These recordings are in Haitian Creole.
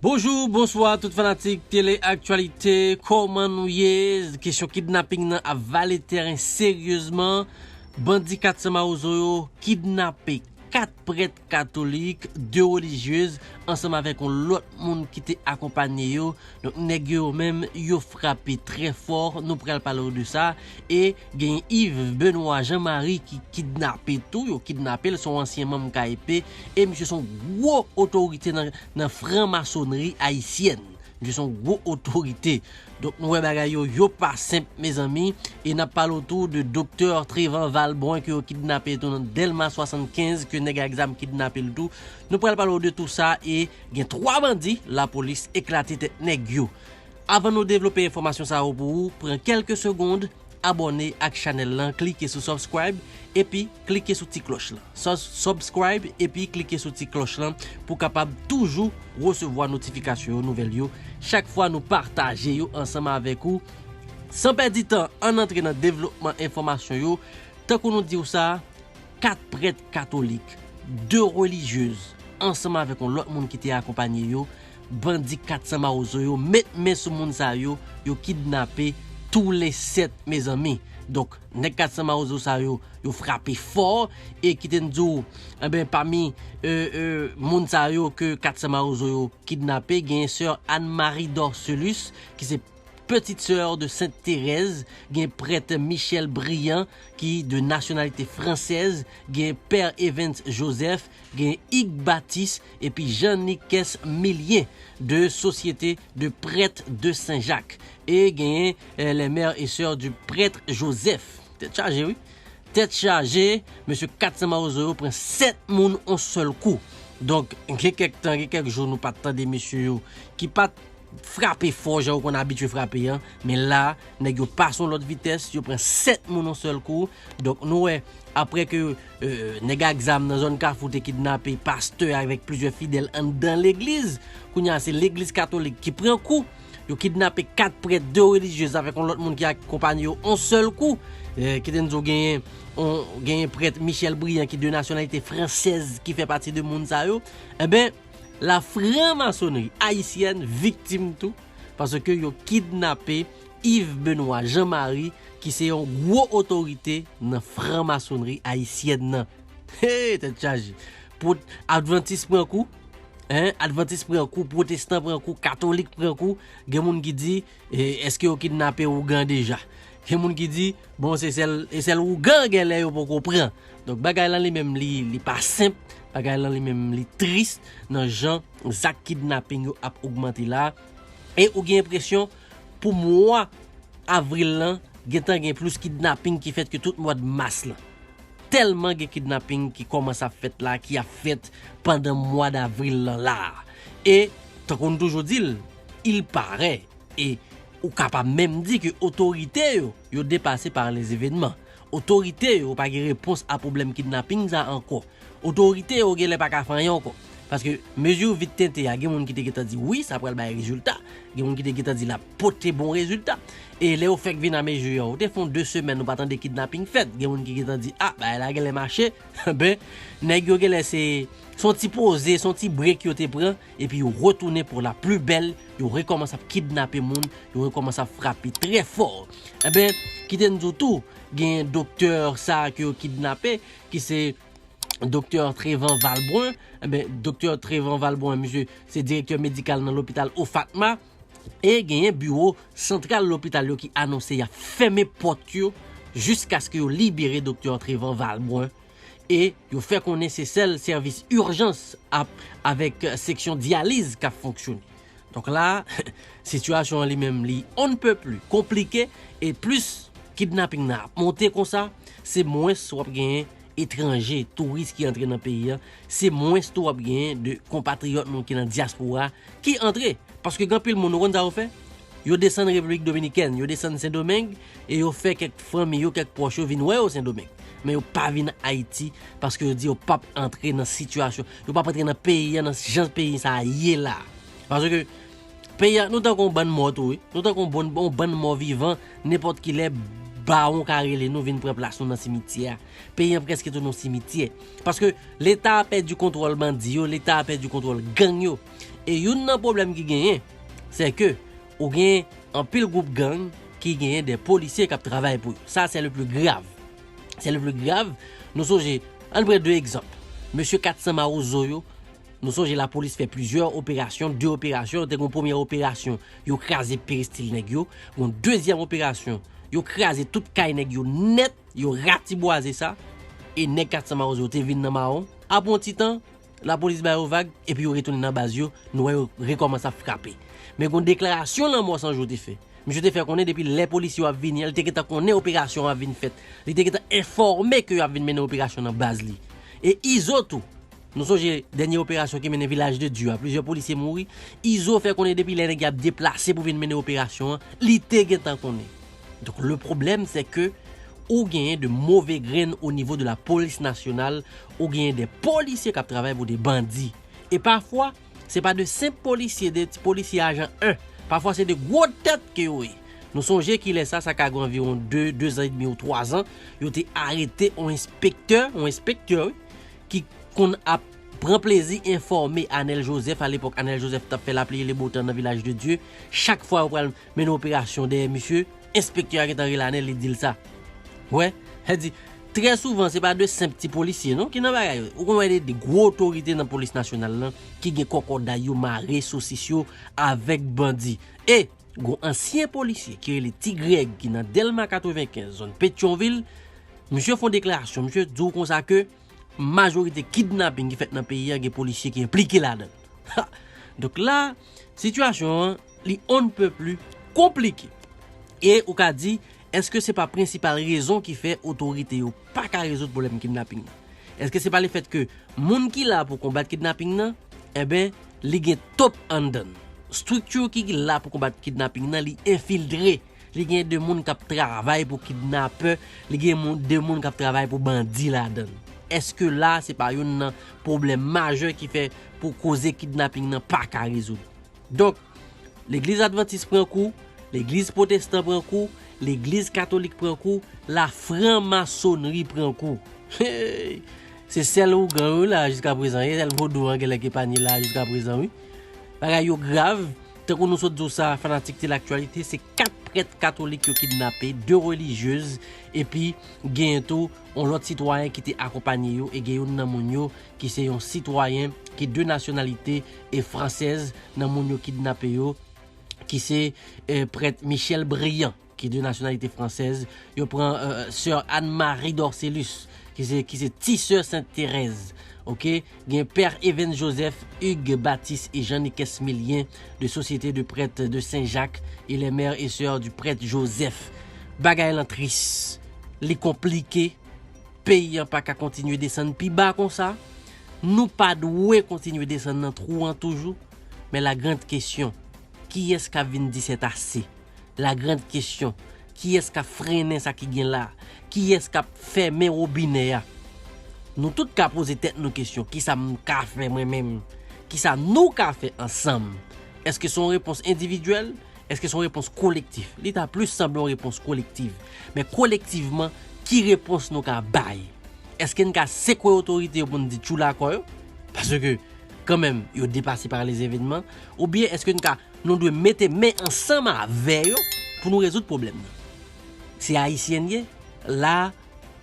Bonjour, bonsoir tout fanatik tele aktyalite Koman nou ye? Kesyon kidnapping nan ap vale tèren seryezman Bandi 400 mawozo yo kidnape 4 prèt katolik, 2 relijyez ansanm avèk yon lòt moun ki te akonpanye yo Donk nèg yo yo menm yo frape trè fò, nou pral pale w de sa, e gen Yves Benoît Jean Marie ki kidnape tou, yo kidnape l, se yon ansyen manm KEP, e misye se yon gwo otorite nan fran masonri ayisyèn, misye se yon gwo otorite. Donk nou wè bagay yo, yo pa senp mezanmi, e n ap pale w tou de doktè Trevent Valbrun ke yo kidnape tou nan Dèlma 75, ke nèg ak zam kidnape l tou, nou pral pale w de tou sa e. Gen 3 bandi lapolis eklate tèt nèg yo. Avan nou devlope enfòmasyon sa yo pou ou pran kèlke segond abòne ak chanèl lan klike sou subscribe epi klike sou ti klòch lan sus subscribe epi klike sou ti klòch lan pou kapab toujou resevwa notifikasyon yo nouvèl yo chak fwa nou pataje yo ansanm avèk ou san pèdi tan ann antre nan devlopman enfòmasyon yo tankou nou diw sa. 4 prèt katolik, 2 relijyez ansanm avèk yon lòt moun ki te akonpanye yo, bandi 400 mawozo yo met men sou moun sa yo, yo kidnape tou le 7 mezanmi. Donk nèg 400 mawozo sa yo, yo frape fò e kite n di w enben pami moun sa yo ke 400 mawozo yo kidnape genyen sè Anne Marie Dorcelus ki se. Petite sœur de Sainte Thérèse, gen prèt Michel Briand ki de nasyonalite fransèz, gen Père Evens Joseph, gen Hugues Baptiste epi Jean Nicaise Millien de Société de prêtres de Saint Jacques e genyen les mères et sœurs du prêtre Joseph. Tèt chaje wi! Tèt chaje! Mesye 400 mawozo yo pran 7 moun on sèl kou. Donk gen kèk tan, gen kèk jou nou pa t tande mesye yo ki pa t. Frape fò jan yo konn abitye frape an, men la nèg yo pase yon lòt vitès, yo pran 7 moun yon sèl kou. Donk nou wè, aprè ke nèg ak zam nan zòn Kafou te kidnape pastè avèk plizyè fidèl anndan legliz, kounye a se legliz katolik ki pran kou. Yo kidnape 4 prèt, 2 relijyez avèk yon lòt moun ki ak konpanye yo yon sèl kou. Kite n di w genyen prèt Michel Briand ki de nasyonalite fransèz ki fè pati de moun sa yo. Enben. La franc-maçonnerie haïtienne viktim tou paske yo kidnape Yves Benoît Jean Marie ki se yon gwo otorite nan franc-maçonnerie haïtienne nan. Hee tèt chaje! Pwot, advantis pran kou, hein, advantis pran kou, pwotestan pran kou, katolik pran kou, gen moun ki di, E eske yo kidnape ougan deja? Gen moun ki di, bon se sèl e sèl ougan gen lè yo poko pran. Donk bagay lan li menm li li pa senp, bagay lan li menm li tris nan jan zak kidnaping yo ap ogmante la. E ou gen enpresyon pou mwa avril lan gen tan gen plis kidnaping ki fèt ke tout mwad mas lan. Tèlman gen kidnaping ki kòmanse ap fèt la, ki ap fèt pandan mwad avril lan la. E tankou nou toujou di l. Il parè e ou ka pa menm di ke otorite yo, yo depase par les evenements. Otorite yo pa gen repons a pwoblèm kidnaping sa ankò. Otorite yo genlè pa ka fè anyen ankò. Paske mezi vit tente a gen moun ki te gentan di wi sa pral bay rezilta, gen moun ki te gentan di l ap pote bon rezilta. E lè yo fèk vin a mezi an, ou te fè yon 2 semèn ou pa tande kidnaping fèt. Gen moun ki gentan di a bagay la genlè mache. Enben, nèg yo genlè se, se yon ti poze, se yon ti break yo te pran. Epi yo retounen pou la pli bèl, yo rekòmanse ap kidnape moun, yo rekòmanse ap frape trè fò. Enben, kite n di w tou, genyen doktè sa a ke yo kidnape, ki se doktè Trevan Valbrun. Enben, doktè Trevan Valbrun, misye se direktè medikal nan lopital OFATMA. E genyen biwo santral lopital yo ki anonse y ap fèmen pòt yo jiskaske yo libere doktè Trevan Valbrun e yo fè konnen se sèl sèvis urjans ap avèk seksyon dyaliz kap fonksyone. Donk la a, sitiyasyon an li menm li on ne peut plus konplike e plis kidnaping nan ap monte konsa, se mwens wap genyen etranje, touris ki antre nan peyi an, se mwens tou wap genyen de konpatriyòt nou ki nan dyaspora ki antre. Paske gen anpil moun ou konn sa yo fè? Yo desann Repiblik Dominikèn, yo desann Sendomeng, e yo fè kèk fanmi yo, kèk pwòch yo vin wè yo Sendomeng, men yo pa vin Ayiti paske yo di yo pap antre nan sitiyasyon, yo pap antre nan peyi an nan jan peyi sa a ye la a. Paske peyi a, nou tankou yon bann mò tou wi, nou tankou yon bon, yon bann mò vivan, nenpòt ki lè bawon ka rele nou vin pran plas nou nan simityè a. Peyi an prèske tounen yon simityè. Paske Leta a pèdi kontwòl bandi yo, Leta a pèdi kontwòl gang yo. E youn nan pwoblèm ki genyen, sè ke. Ou gen anpil group gang ki genyen des policiers kap travay pou yo. Sa c'est le plus grave. C'est le plus grave. Nou sonje, ann pran 2 egzanp. Mesye 400 mawozo yo, nou sonje la police fè plusieurs opérations, 2 opérations, te gon premyè operasyon yo kraze peristil nèg yo, gon dezyèm operasyon yo kraze tout kay nèg yo nèt, yo ratibwaze sa e nèg 400 mawozo yo te vin nan mawon. Apre yon ti tan, Lapolis ba yo vag epi yo retounen nan baz yo, nou wè yo rekòmanse ap frape. Men gon deklarasyon Lanmò San Jou te fè. Misye te fè konnen depi lè polisye yo ap vini an li te gentan konnen operasyon an ap vin fèt. Li te gentan enfòme ke yo ap vin mennen operasyon nan baz li. E Izo tou. Nou sonje dènye operasyon ki mennen Vilaj de Dye a, plizyè polisye mouri. Izo fè konnen depi lè nèg y ap deplase pou vin mennen operasyon an, li te gentan konnen. Donk le problème c'est que ou genyen de move grenn o nivo de la polis nasyonal, ou genyen de polisye kap travay pou de bandi. E pafwa, se pa de senp polisye, de ti polisye ajan 1. Pafwa se de gwo tèt ke yo ye. Nou sonje kilè sa, sa ka gen anviwon 2, 2 zan e demi ou 3 zan, yo te arete on enspektè, on enspektè wi, ki konn ap pran plezi enfòme Anèl Jozèf, alepòk Anèl Jozèf tap fè lapli e le bo tan nan Vilaj de Dye, chak fwa yo pral mennen operasyon dèyè misye, enspektè a gentan rele Anèl li di l sa. Wè, sa di, trè souvan se pa de senp ti polisye non ki nan bagay yo, ou konn wè de gwo otorite nan polis nasyonal lan ki gen kòkòday yo mare sosis yo avèk bandi. E, gon ansyen polisye ki rele Ti Grèg ki nan Dèlma 95, zòn Petyonvil, misye fon deklarasyon, misye di w konsa ke, Majorite kidnapping ki fèt nan peyi a gen polisye ki enplike ladann. Ha! Donk la, sitiyasyon an li on ne peut plus konplike. E ou ka di, èske se pa prensipal rezon ki fè otorite yo pa ka rezoud pwoblèm kidnapping nan? Èske se pa le fèt ke moun ki la pou konbat kidnapping nan, enben, li gen top anndan l? Structure ki la pou konbat kidnapping nan li enfiltre. Li gen 2 moun kap travay pou kidnapè, li gen moun 2 moun kap travay pou bandi ladann. Eske la se pa youn nan pwoblèm majè ki fè pou koze kidnaping nan pa ka rezoud. Donk, legliz advantis pran kou, legliz pwotestan pran kou, legliz katolik pran kou, la fran masonri pran kou. Heyy! Se sèl ougan yo wi la jiska prezan, se sèl vodou an genlè ki epanye la jiska prezan wi. Bagay yo grav. Tankou nou sot di w sa, fanatik ti laktyalite, se 4 prèt katolik yo kidnape, 2 relijyez, epi genyen tou yon lòt sitwayen ki te akonpanye yo e gen youn nan moun yo ki se yon sitwayen ki de nasyonalite e fransèz nan moun yo kidnape yo ki se prèt Michel Brillant. ki de nasyonalite fransèz, yo pran Soeur Anne Marie Dorcélus ki se ki se ti sè Sent Terèz ok, gen Père Evens Joseph, Hugues Baptiste et Jean Niquès Millien de Société de Prêtres de Saint Jacques et les Mères et Soeurs du Prêtre Joseph bagay lan tris li konplike peyi an pa ka kontinye desann pi ba konsa nou pa dwe kontinye desann nan twou an toujou men la grande question kiyès k ap vin di sètase? La grande question, kiyès kap frennen sa ki gen la? Kiyès kap fèmen robinè a? Nou tout ka poze tèt nou kesyon, kisa m ka fè mwen menm? Kisa nou ka fè ansanm? Eske se yon repons endividyèl? Eske se yon repons kolektif? Li ta plis sanble yon repons kolektiv. Men kolektivman, ki repons nou ka bay? Eske n ka sekwe otorite yo pou n di tchoula kò yo? Paske, kanmenm, yo depase pa lèzevenman. Oubyen eske n ka Nou dwe mete men ansanm avè yo pou nou rezoud pwoblèm nan. Se Ayisyen n ye, la a,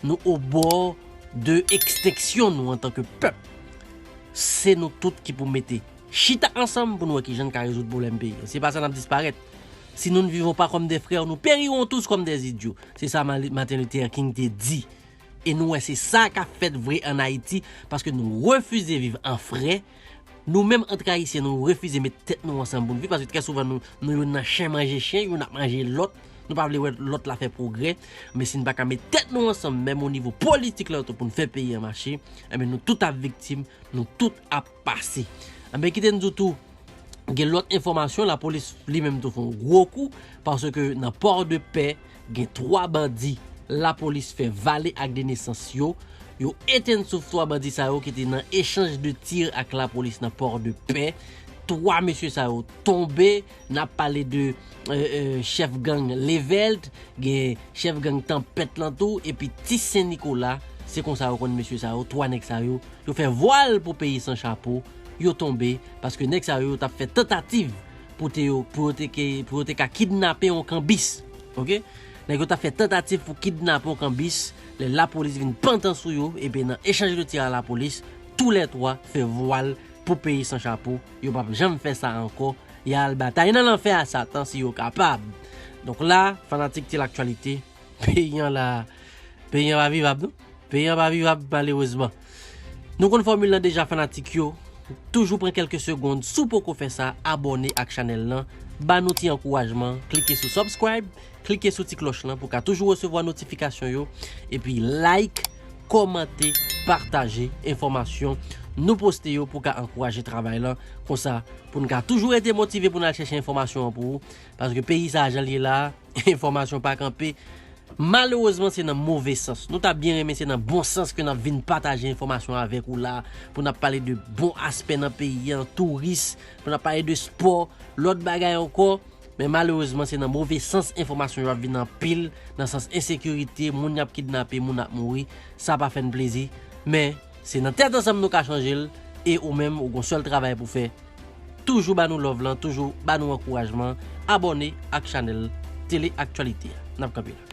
nou obò de ekstenksyon nou antanke pèp. Se nou tout ki pou mete chita ansanm pou nou wè ki jan n ka rezoud pwoblèm peyi an. Si pa sa n ap disparèt. Si nou n vivon pa kòm de frè, nou perirons tous comme des idiots. Se sa Martin Luther King te di. E nou wè se sa k ap fèt vre an Ayiti paske nou refize viv an frè. Nou menm antre ayisyen nou refize met tèt nou ansanm pou n viv paske trè souvan nou youn nan chen manje chen, youn ap manje lòt, nou pa vle wè lòt la fè pwogrè, men si n pa ka met tèt nou ansanm menm o nivo politik la tou pou n fè peyi an mache, enben nou tout ap viktim, nou tout ap pase. Enben kite n di w tou, gen lòt enfòmasyon, lapolis li menm tou fè yon gwo kou, paske nan Pòdepè, Gen 3 bandi lapolis fè vale ak 2 nesans yo, yo etenn souf 3 bandi sa yo ki te nan echanj de tir ak lapolis nan port de paix, 3 mesye sa yo tonbe, nap pale de chèf gang Levelt, gen chèf gang Tanpèt lan tou epi Ti Sen Nikola, se konsa yo konn mesye sa yo, 3 nèg sa yo, yo fè vwal pou peyi san chapo, yo tonbe, paske nèg sa yo yo tap fè tantativ pote yo pou yo te ke pou yo te ka kidnape yon kanbis ok nèg yo tap fè tantativ pou kidnape yon kanbis lè lapolis vin pantan sou yo epi nan echanj de tir a lapolis tou lè 3 fè vwal pou peyi san chapo yo pap janm fè sa ankò ya al batay nan lanfè a satan si yo kapab donk la fanatik ti laktyalite peyi an la peyi an pa vivab non. Peyi an pa vivab malerezman. Nou konn fòmil lan deja fanatik yo, toujou pran kelke segond si w poko fè sa abòne ak chanèl lan, ba nou ti ankourajman, klike sou subscribe, klike sou ti klòch lan pou ka toujou resevwa notifikasyon yo, epi like, kòmante, pataje enfòmasyon nou poste yo pou ka ankouraje travay lan, konsa pou n ka toujou rete motive pou n al chèche enfòmasyon an pou ou, paske peyi sa a jan l ye la a, enfòmasyon pa kanpe, Malerezman se nan move sans. Nou ta byen renmen se nan bon sans ke nap vin pataje enfòmasyon avèk ou la, pou nap pale de bon aspè nan peyi an, touris, pou nap pale de spò, lòt bagay ankò, men malerezman se nan move sans enfòmasyon yo ap vin anpil, nan sans ensekirite, moun yap kidnape, moun ap mouri, sa pa fèn plezi, men. Se nan tèt ansanm nou ka chanjel e ou menm ou gon sèl travay pou fè toujou ba nou love lan toujou ba nou ankourajman abòne ak chanèl tele aktyalite a nap kanpe la.